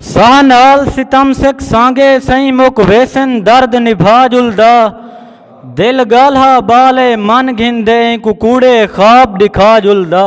ساہ نال ستم سک سانگے سئیں مک ویسن درد نبھا جلدا دل گالھا بال اے من گھن دے اینکو کوڑے خواب ڈکھا جلدا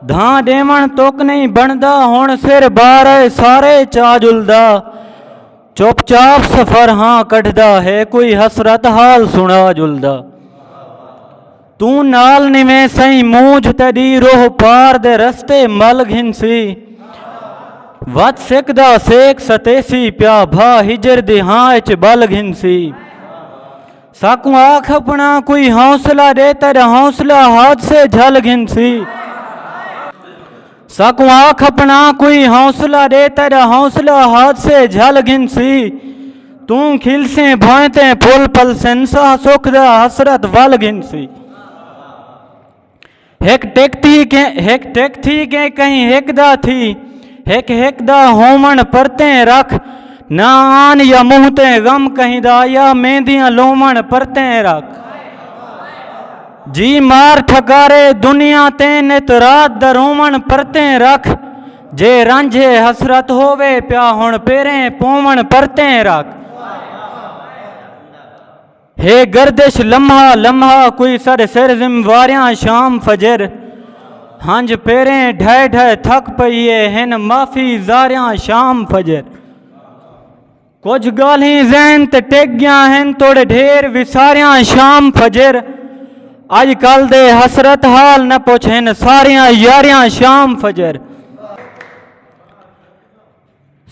دھاں ڈیون توک نہیں بندا ہن سر بار اے سارے چا جلدا چپ چاپ سفر ہاں کٹھدا ہے کوئی حسرت حال سنا جلدا توں نال نیویں سئیں مونجھ تیڈی روح پار دے رستے مل گھنسی وت سک دا سیک ستیسی پیا بھا ہجر دی ہاں اچ بل گھنسی ساکوں آکھ اپنا کوئی حوصلہ دے تیرا حوصلہ حادثے جھل گھنسی ساکوں آکھ اپنا کوئی حوصلہ ڈے تیرا حوصلہ حادثے جھل گھنسی توں کھلسیں بھوئیں تے پھل پلسن ساہ سکھ دا حسرت ول گھنسی ہک ٹک تھی کہ ہک ٹک تھی کہ کہیں ہک دا تھی ہک ہک دا ہومن پرتیں رکھ نہ آن یا منہ تے غم کہیں دا یا میندیاں لومن پرتیں رکھ جی مار ٹھکارے دنیا تیں نت رات دا رووݨ پرتیں رکھ جے رنج ہے حسرت ہووے پیا ہݨ پیریں پووݨ پرتیں رکھ ہے گردش لمحہ لمحہ کوئی سر سر ذم واریاں شام فجر ہنج پیریں ڈھائے ڈھائے تھک پئیے ہن معافی زاریاں شام فجر کجھ گالھیں ذہن تے ٹک گیاں ہن توڑے ڈھیر وساریاں شام فجر اج کل دے حسرت حال نہ پوچھ ہن ساریاں یاریاں شام فجر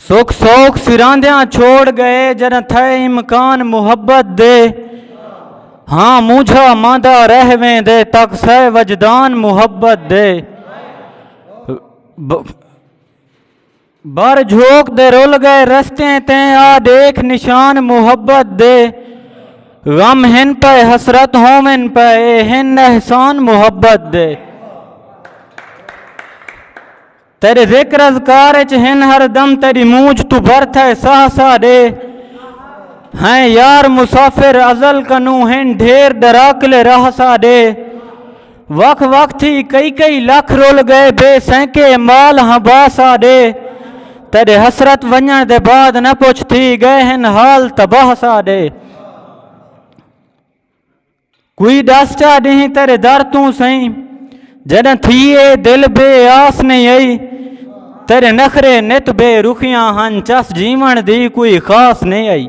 سکھ سوکھ سراندیاں چھوڑ گئے جر تھے امکان محبت دے ہاں مونجھا ماندا رہ ویں دے تک سہ وجدان محبت دے بھر جھوک دے رل گئے رستیں تیں آ ݙیکھ نشان محبت دے غم ہن پئے حسرت ہوون پئے اے ہن احسان محبت دے تیݙے ذکر اذکار اچ ہن ہر دم تیݙی مونجھ توں بھر تھئے ساہ ساہ ݙے ہیں یار مسافر ازل کنوں ہن ڈھیر ݙراکلے راہ ساہ ݙے وکھ وکھ تھی کئی کئی لکھ رول گئے بے سینکے مال ہاں باس آ ڈے تیرے حسرت ونجن دے بعد نہ پوچھ تھی گئے ہن حال تباہ سا ڈے کوئی ڈس چا ڈہیں تیرے در توں سئی جڈن تھی اے دل بے آس نہیں آئی تیرے نخرے نت بے رخیاں ہن چس جیون دی کوئی خاص نہیں آئی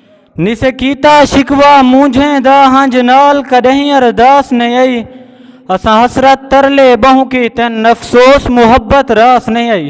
نسے کیتا شکوا مونجھیں دا ہنج نال کڈہیں ارداس نئیں آئی اساں حسرت ترلے بہوں کیتن افسوس محبت راس نئیں آئی